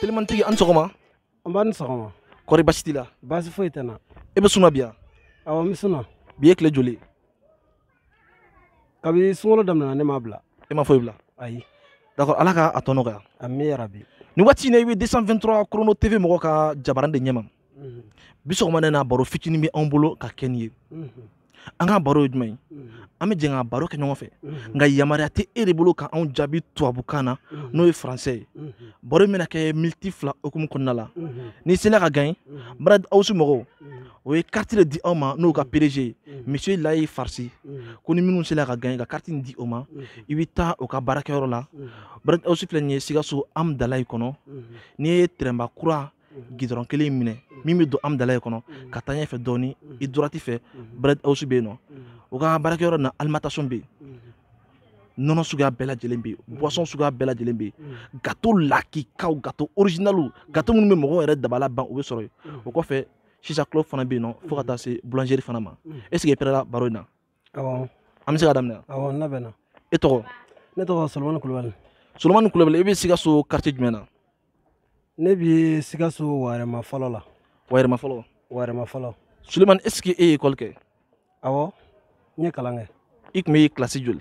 telimantigi a ni sɔgɔma nba a ni sɔgɔma kɔri baasi t'i la baasi foyi tɛ n na e bɛ sun na bi yan awɔ n bɛ sun na bi ye tile joli kabini sunkalo daminɛna ne m'a bila e ma foyi bila ayi d'accord ala ka a tɔ nɔgɔya ami yarabi nin waati in na i bɛ 223 chrono tv mɔgɔ ka jabaran de ɲɛma mhm. bi sɔgɔmada in na baro fitinin bɛ anw bolo ka kɛ n'i ye mhm. an ka baro ye jumɛn ye mhm. an bɛ jɛn ka baro kɛ ɲɔgɔn fɛ nka yamaruya tɛ e de bolo ka anw jaabi tubabukan na n'o ye faransɛ ye baro in bɛna kɛ miniti fila hukumu kɔnɔna la n'i sela ka gaɲe bread house mɔgɔw o ye kariti de di anw ma n'o ka pdg ye misiye layi farisi ko ni minnu sela ka gaɲe ka kariti in di o ma i bɛ taa o ka baarakɛyɔrɔ la bread house filɛ nin ye sikaso amdalayi kɔnɔ n'i ye tɛrɛnba kura gidɔrɔn kelen in minɛ min bɛ don amdalayi kɔnɔ ka taa ɲɛfɛ dɔɔni i droite fɛ bread house bɛ yen nɔ o ka baarakɛyɔrɔ na alimentation bɛ yen nɔnɔ suguya bɛɛ lajɛlen bɛ yen boisson suguya bɛɛ lajɛlen bɛ yen gato lakikaw gato original gato minnu bɛ mɔgɔw yɛrɛ dabala ban o bɛ sɔrɔ yen o kɔfɛ chicha club fana bɛ yen nɔ fo ka taa se boulangerie fana ma est ce que i pɛrɛla baro in na Awɔ. An bɛ se ka daminɛ wa? Awɔ, n labɛnna. E tɔgɔ? Ne tɔgɔ Solomani Kulubali. Solomani Kulubali, e bɛ Sikaso quartier jumɛn na? Ne bɛ Sikaso Wayɛrɛma fɔlɔ la. Wayɛrɛma fɔlɔ? Wayɛrɛma fɔlɔ. Solomani, est ce que e ye école kɛ? Awɔ, n ye kalan kɛ. I tun bɛ kilasi joli?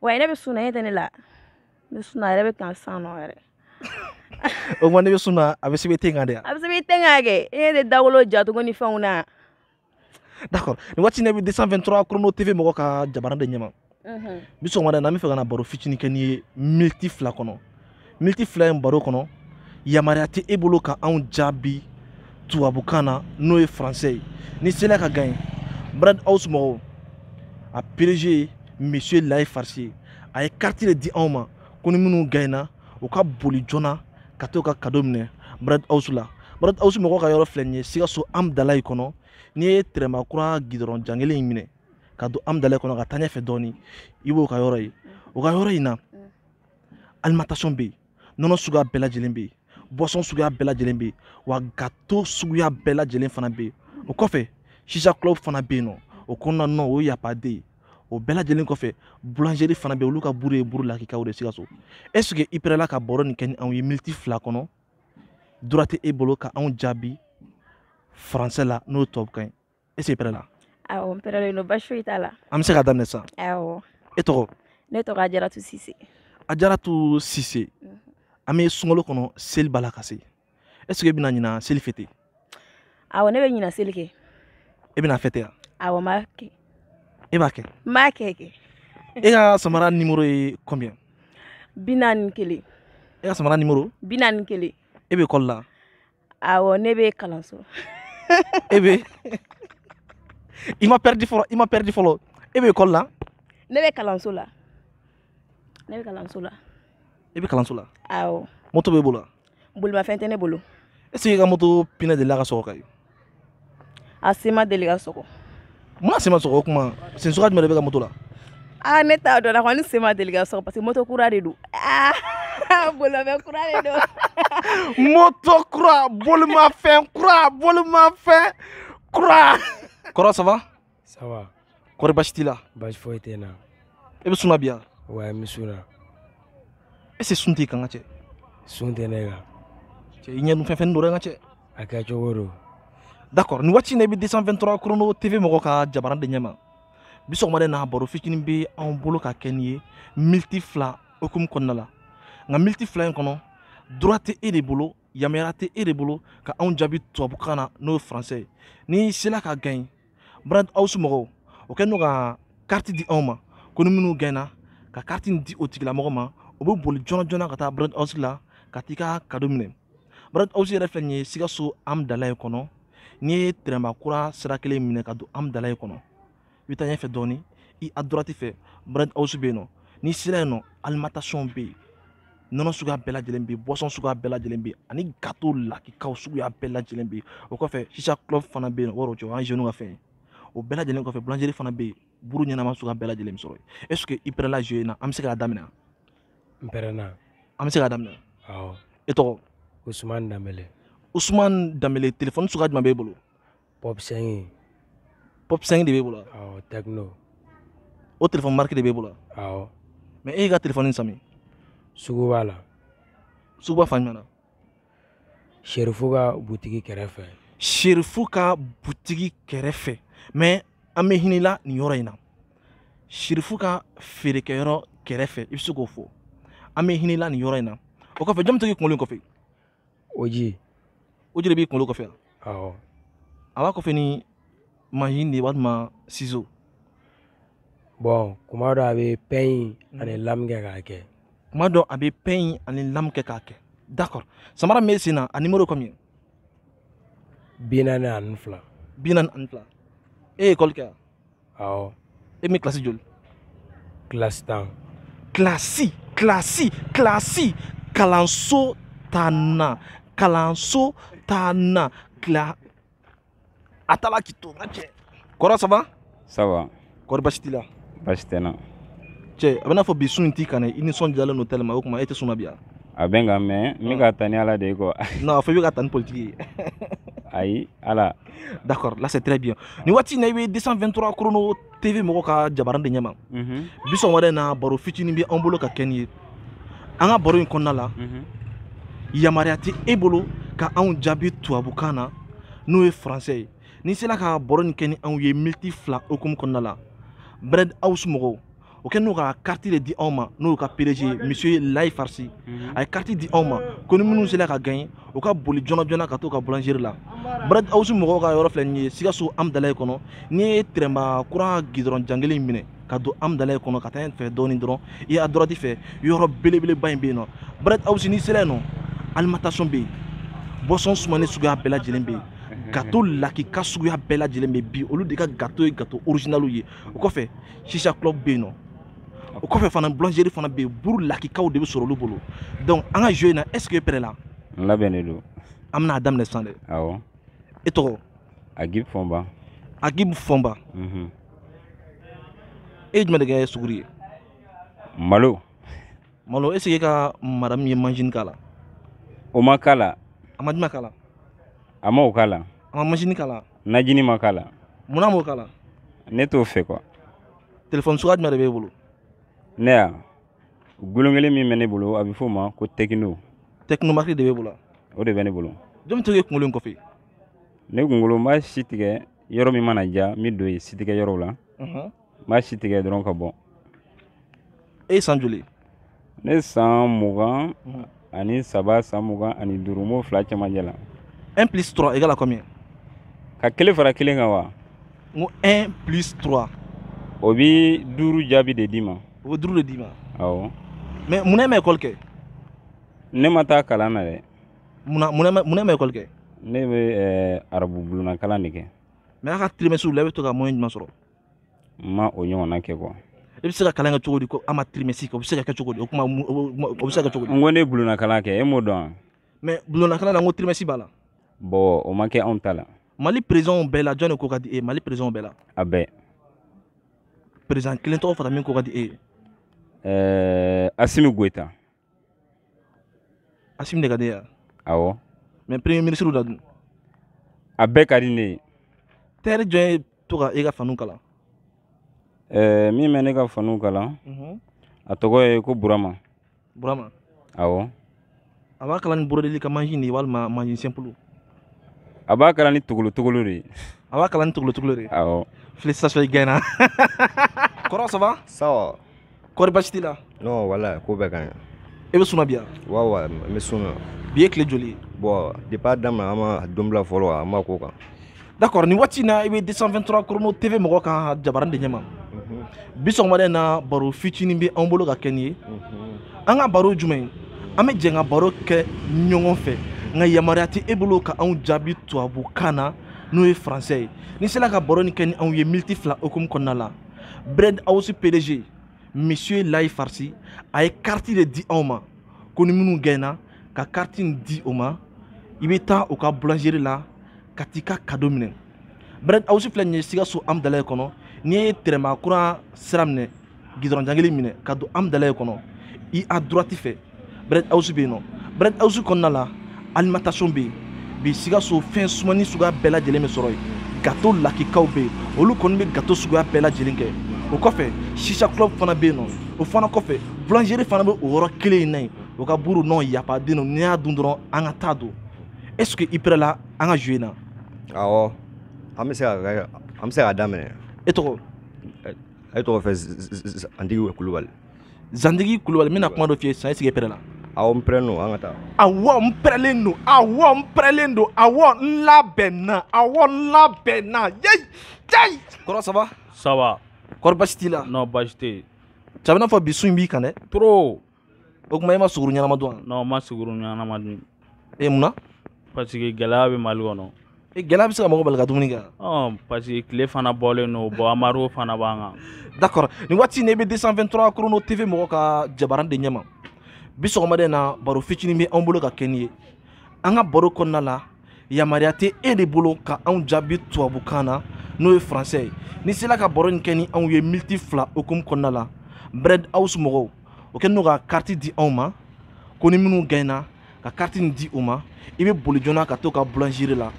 wa ne bɛ sun na e tɛ ne la ne sunna yɛrɛ bɛ kan san nɔ yɛrɛ o kuma ne bɛ sun na a bɛ sɛbɛn ten kan dɛ a bɛ sɛbɛn ten kan kɛ e de dawolo jacogo ni fɛnw na d'accord nin waati in na i bɛ 223 chrono tv mɔgɔ ka jabaran de ɲɛma bi sɔgɔmada in na an bɛ fɛ ka na baro fitinin kɛ n'i ye miniti fila kɔnɔ miniti fila in baro kɔnɔ yamaruya tɛ e bolo ka anw jaabi tubabukan na n'o ye faransɛ ye n'i sela ka gaɲe bread house mɔgɔw a pdg ye monsieur layi farisi ye a ye kariti de di anw ma ko ni minnu gaɲena u ka boli joona ka t'o ka kado minɛ bread house la bread house mɔgɔw ka yɔrɔ filɛ nin ye sikaso amdalayi kɔnɔ n'i ye tɛrɛnba kura gidɔrɔn jan kelen in minɛ ka don amdalayi kɔnɔ ka taa ɲɛfɛ dɔɔni i b'o ka yɔrɔ ye o ka yɔrɔ in na alimentation bɛ yen nɔnɔ suguya bɛɛ lajɛlen bɛ yen boisson suguya bɛɛ lajɛlen bɛ yen wa gato suguya bɛɛ lajɛlen fana bɛ yen o kɔfɛ chicha club fana bɛ yen nɔ o kɔnɔna nɔ o ye y a pas deux ye o bɛɛ lajɛlen kɔfɛ boulangerie fana bɛ yen olu ka buru ye buru lakikaw de ye sikaso est ce que i pɛrɛla ka baro nin kɛ ni anw ye miniti fila kɔnɔ droit tɛ e bolo ka anw jaabi faransɛ la n'o ye tubabukan ye est ce que i pɛrɛla awɔ n pɛrɛlen don basi foyi t'a la an bɛ se ka daminɛ sisan awɔ e tɔgɔ ne tɔgɔ ajaratu sise ajaratu sise mhm. an bɛ sunkalo kɔnɔ seli b'a la ka se est ce que e bɛna ɲina seli fête awɔ ne bɛ ɲina seli kɛ e bɛna fête wa awɔ n b'a kɛ e b'a kɛ n b'a kɛ kɛ e ka samara nimoro ye combien bi naani ni kelen e ka samara nimoro bi naani ni kelen e bɛ ekɔli la awɔ ne bɛ kalanso e bɛ i ma pɛridi fɔlɔ i ma pɛridi fɔlɔ e bɛ ekɔli la ne bɛ kalanso la ne bɛ kalanso la e bɛ kalanso la awɔ moto b'e bolo wa bolimafɛn tɛ ne bolo est ce que i ka moto pinɛ delila ka sɔgɔ ka ye a sen ma deli ka sɔgɔ mun na sen ma sɔgɔ o kuma sen suguya jumɛn de b'e ka moto la aa ne t'a dɔn la kɔni sen ma deli ka sɔgɔ parce que moto kura de don aa bolimafɛn kura de don moto kura bolimafɛn kura bolimafɛn kura kɔrɔ ça va Ça va. Kɔri basi t'i la? Basi foyi tɛ n na. E bɛ sun na bi wa? Ouais, n bɛ sun na. Est-ce que sun t'i kan n ka cɛ? Sun tɛ ne kan. Cɛ i ɲɛ dun fɛnfɛnni don dɛ n ka cɛ. A kɛcogo don. D'accord, nin waati in na i bɛ 223 Chrono TV mɔgɔ ka jabaran de ɲɛ ma. Bi sɔgɔmada in na baro fitinin bɛ anw bolo ka kɛ nin ye miniti fila hukumu kɔnɔna la. Nka miniti fila in kɔnɔ droit tɛ e de bolo yamaruya tɛ e de bolo ka anw jaabi tubabukan na n'o ye français ye. N'i sela ka gagner brad house mɔgɔw o kɛlen don ka kariti di anw ma ko ni minnu gaɲɛna ka kariti nin di o tigilamɔgɔ ma o bɛ boli joona joona ka taa brad house la ka t'i ka kado minɛ brad house yɛrɛ filɛ nin ye sikaso amdalaye kɔnɔ n'i ye tɛrɛnba kura sira kelen minɛ ka don amdalaye kɔnɔ i bɛ taa ɲɛfɛ dɔɔni i à droite fɛ brad house bɛ yen nɔ n'i sera yen nɔ alimentation bɛ yen nɔnɔ suguya bɛɛ lajɛlen bɛ yen boisson suguya bɛɛ lajɛlen bɛ yen ani gato lakikaw suguya bɛɛ lajɛlen bɛ yen o kɔfɛ chicha club fana bɛ yen o yɔrɔ cɛ o y'an jeunes ka fɛn ye o bɛɛ lajɛlen kɔfɛ bulanjeri fana bɛ yen buru ɲɛnama suguya bɛɛ lajɛlen bɛ sɔrɔ yen est ce que i pɛrɛla jeu in na an bɛ se k'a daminɛ n pɛrɛnna an bɛ se k'a daminɛ awɔ e tɔgɔ usumani danbele usumani danbele telefɔni suguya jumɛn b'e bolo pop cinq pop cinq de b'e bolo awɔ tecno o telefɔni mariki de b'e bolo awɔ mais e y'i ka telefɔni san min suguba la suguba fan jumɛn na serifu ka butigi kɛrɛfɛ serifu ka butigi kɛrɛfɛ mais an bɛ hinɛ i la nin yɔrɔ in na serifu ka feerekɛyɔrɔ kɛrɛfɛ i bɛ se k'o fɔ an bɛ hinɛ i la nin yɔrɔ in na o kɔfɛ jɔn bɛ to k'i kunkolo in coiffer oji oji de b'i kunkolo coiffer awɔ a b'a coiffer ni mansin de ye walima sizo bɔn kuma dɔ a bɛ pɛɲi ani mm. lamu kɛ k'a kɛ kuma dɔ a bɛ pɛɲi ani lamu kɛ k'a kɛ d'accord samara min b'e sen na a nimoro ye combien bi naani ani fila bi naani ani fila e ye école kɛ wa awɔ e min kilasi joli kilasi tan kilasi kilasi kilasi kalanso tannan kalanso tannan kila a taala k'i to n ka cɛ kɔrɔ ça va ça va kɔrɔ basi t'i la basi tɛ n na cɛ a b'i n'a fɔ bi sun in t'i kan dɛ i nisɔndiyalen don tellement o tuma e tɛ sun na bi wa a bɛ n kan mais n bɛ ka taa ni ala de ye quoi non a fɔ i bɛ ka taa ni politiki ye ayi ala d'accord là c'est très bien ni waati in na i bɛ 223 chrono tv mɔgɔw ka jabaran de ɲɛma mhm. bi sɔgɔmada in na baro fitinin bɛ an bolo ka kɛ n'i ye an ka baro in kɔnɔna la mhm. yamaruya tɛ e bolo ka anw jaabi tubabukan na n'o ye français ye n'i sera ka baro in kɛ ni anw ye miniti fila hukumu kɔnɔna la bread house mɔgɔw o kɛ n'o ka kariti de di anw ma n'o ka PDG misiye layi farisi mhm. a ye kariti di anw ma ko ni minnu sera ka gagner u ka boli joona joona ka t'u ka bulanzeri la bread house mɔgɔw ka yɔrɔ filɛ nin ye sikaso amudalayi kɔnɔ n'i ye tɛrɛnba kura gudɔrɔn jan kelen in minɛ ka don amudalayi kɔnɔ ka taa ɲɛfɛ dɔɔni dɔrɔn i ya droite fɛ yɔrɔ belebeleba in bɛ yen nɔ bread house n'i sera yen nɔ alimentation bɛ yen boisson sumanin suguya bɛɛ lajɛlen bɛ yen gato lakika suguya bɛɛ lajɛlen bɛ bi olu de ka gato ye gato orijinaliw ye o kɔfɛ shisha club bɛ yen nɔ o kɔfɛ fana boulangerie fana bɛ yen buru lakikaw de bɛ sɔrɔ olu bolo donc an ka jeu in na est ce que e pɛrɛla. n labɛnnen don. an bɛna a daminɛ sisan dɛ. awɔ. e tɔgɔ. agib fɔnba. agib fɔnba. Mhm. e ye jumɛn de kɛ suguri ye. malo. malo est ce que e ka madamu ye manzini k'a la. o ma k'a la. a ma jumɛn k'a la. a ma o k'a la. a ma manzini k'a la. najini ma k'a la munna a m'o k'a la ne t'o fɛ quoi telefɔni suguya jumɛn de b'e bolo ne ya gulon kelen min bɛ ne bolo a bɛ f'o ma ko tekino tekino marque de b'e bolo wa? o de bɛ ne bolo jɔn bɛ to k'e kunkolo in coiffer ne kunkolo n b'a si tigɛ yɔrɔ min mana diya n bɛ don yen si tigɛ yɔrɔw la Unhun. m'a si tigɛ dɔrɔn ka bɔ e san joli ne san mugan mhm. ani saba san mugan ani duuru m'o fila cɛmancɛ la un plus trois égale à combien ka kelen fara kelen kan wa n ko un plus trois o bi duuru jaabi de d'i ma o bɛ duuru de d'i ma awɔ mais mun na e ma ekɔli kɛ ne ma taa kalan na dɛ mun na mun na mun na e ma ekɔli kɛ ne bɛ arabu bulonna kalan de kɛ mais a ka tirimɛsiw la e bɛ to ka mɔyɛn jumɛn sɔrɔ ma o ɲɔgɔnna kɛ quoi i bɛ se ka kalan kɛ cogo di ko a ma trimestre kɛ o bɛ se ka kɛ cogo di o kuma o bɛ se ka kɛ cogo di n ko ne bulonna kalan kɛ e m'o dɔn wa mais bulonna kalan na n ko trimestre b'a la bon o ma kɛ anw ta la mali présidentw bɛɛ la jɔn de ko ka di e ye mali présidentw bɛɛ la a bɛɛ président kelen tɔgɔ fara min ko ka di e ye ɛɛ asimi goyita Asimi de ka di e ye wa? Awɔ. Mais premier ministre la dun? A bɛɛ ka di ne ye. Tailleur jɔn ye to ka e ka faniw kalan? Ɛɛ min bɛ ne ka faniw kalan, unhun, a tɔgɔ ye ko Burama. Burama? Awɔ. A b'a kala ni brodeli ka mansin de ye walima mansin simple? A b'a kala ni togolo togolo de ye. A b'a kala ni togolo togolo de ye? Awɔ. Félicitations i gagnera. Kɔrɔ ça va? Ça va. kɔri basi t'i la non voilà ko bɛɛ ka ɲi i bɛ sun na bi yan wa wa n bɛ sun na bi ye tile joli ye bon depuis a daminɛ an ma don bila fɔlɔ an b'a kan d'accord nin waati in na i bɛ 223 chrono tv mɔgɔ ka jabaran de ɲɛma bi sɔgɔmada in na baro fitinin bɛ anw bolo ka kɛ n'i ye an ka baro jumɛn an bɛ jɛ ka baro kɛ ɲɔgɔn fɛ nka yamaruya tɛ e bolo ka anw jaabi tubabukan na n'o ye français ye n'i sera ka baro nin kɛ ni anw ye miniti fila hukumu kɔnɔna la bread house pdg monsieur layi farsi a ye kariti de di anw ma ko ni minnu gagnena ka kariti nin di o ma i bɛ taa u ka boulangerie la ka t'i ka kado minɛ bread house filɛ nin ye sikaso hamdallaye kɔnɔ n'i ye tɛrɛma kura sira minɛ gidɔrɔn jangili minɛ ka don hamdallaye kɔnɔ i à droite fɛ bread house bɛ yen nɔ bread house kɔnɔna la alimentation bɛ yen bi sikaso fɛn sumani suguya bɛɛ lajɛlen bɛ sɔrɔ yen gato lakikaw bɛ yen olu kɔni bɛ gato suguya bɛɛ lajɛlen kɛ o kɔfɛ shisha club fana bɛ yen nɔ o fana kɔfɛ boulangerie fana bɛ o yɔrɔ kelen in na yen o ka buru nɔ yapaden don n'i y'a dun dɔrɔn an ka taa don est ce que i pɛrɛla an ka jeu in na awɔ an bɛ se ka an bɛ se k'a daminɛ e tɔgɔ e tɔgɔ fɛ zandigi kulubali zandigi kulubali n bɛna kuma dɔ f'i ye sisan est ce que i pɛrɛla awɔ n pɛrɛlen don an ka taa awɔ n pɛrɛlen don awɔ n pɛrɛlen don awɔ n labɛnna awɔ n labɛnna yei yei kɔrɔ ça va ça va kɔri basi t'i la non basi tɛ yen cɛ a bɛ n'a fɔ bi sun in b'i kan dɛ trop o tuma e ma suguru ɲɛnama dun wa non n ma suguru ɲɛnama dun ee mun na parce que gɛlɛya bɛ mali kɔnɔ e, gɛlɛya bɛ se ka mɔgɔ bali ka dumuni kɛ parce que tile fana bɔlen don bon embargo fana b'an kan d'accord nin waati in na i bɛ 223 chrono tv mɔgɔ ka jabaran de ɲɛma bi sɔgɔmada in na baro fitinin bɛ anw bolo ka kɛ n'i ye an ka baro kɔnɔna la yamaruya tɛ e de bolo ka anw jaabi tubabukan na n'o ye français ye n'i sela ka baro nin kɛ ni anw ye miniti fila hukumu kɔnɔna la bread house mɔgɔw o kɛlen don ka kariti di anw ma ko ni minnu gagnena ka carte nin di u ma i bɛ boli joona ka t'o ka boulangerie la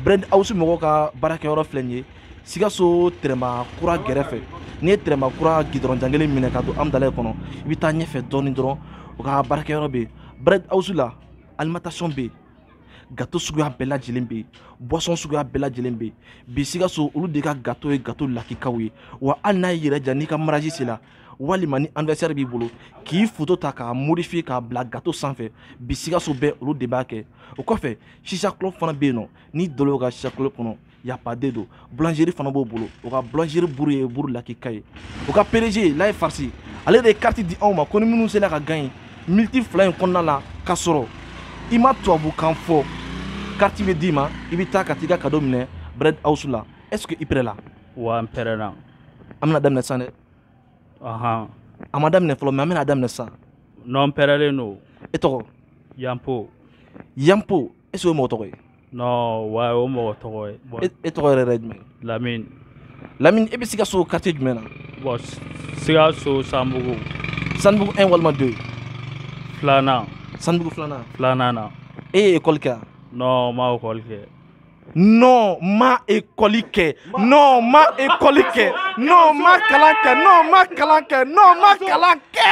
bread house mɔgɔw ka baarakɛyɔrɔ filɛ nin ye sikaso tɛrɛma kura gɛrɛfɛ n'i ye tɛrɛma kura gidɔrɔn jan kelen minɛ ka don amudalayi kɔnɔ i bɛ taa ɲɛfɛ dɔɔni dɔrɔn u ka baarakɛyɔrɔ bɛ yen bread house la alimentation bɛ yen gato suguya bɛɛ lajɛlen bɛ yen boisson suguya bɛɛ lajɛlen bɛ yen bi sikaso olu de ka gato ye gato lakikaw ye wa hali n'a y'i yɛrɛ ja n'i ka mariage sera walima ni anniversaire b'i bolo k'i foto ta k'a modifier k'a bila gato sanfɛ bi sikaso bɛɛ olu de b'a kɛ o kɔfɛ shisha club fana bɛ yen nɔn n'i donna o ka shisha club kɔnɔ yapaden don boulangerie fana b'o bolo o ka boulangerie buru ye buru lakika ye o ka pdg layi farisi ale de ye carte di anw ma ko ni minnu sera ka gagner militi fila in kɔnɔna la k'a sɔrɔ i ma tubabukan fɔ carte bɛ d'i ma i bɛ taa ka t'i ka kado minɛ bread house la est ce que i pɛrɛla wa n pɛrɛna an bɛna daminɛ sisan dɛ ɔhan a ma daminɛ fɔlɔ mais an bɛna daminɛ sisan nɔn n pɛrɛlen don e tɔgɔ yanpo yanpo est ce que o mɔgɔ tɔgɔ ye nɔn wa o mɔgɔ tɔgɔ ye bɔn e- e tɔgɔ yɛrɛ yɛrɛ ye jumɛn ye lamini lamini e bɛ sikaso quartier jumɛn na bɔn sikaso sanbugu sanbugu 1 walima 2 filanan sanbugu filanan filanan na e ye ekɔli kɛ yan nɔn n ma ekɔli kɛ non ma école kɛ non ma école kɛ non ma kalan kɛ non ma kalan kɛ non ma kalan kɛ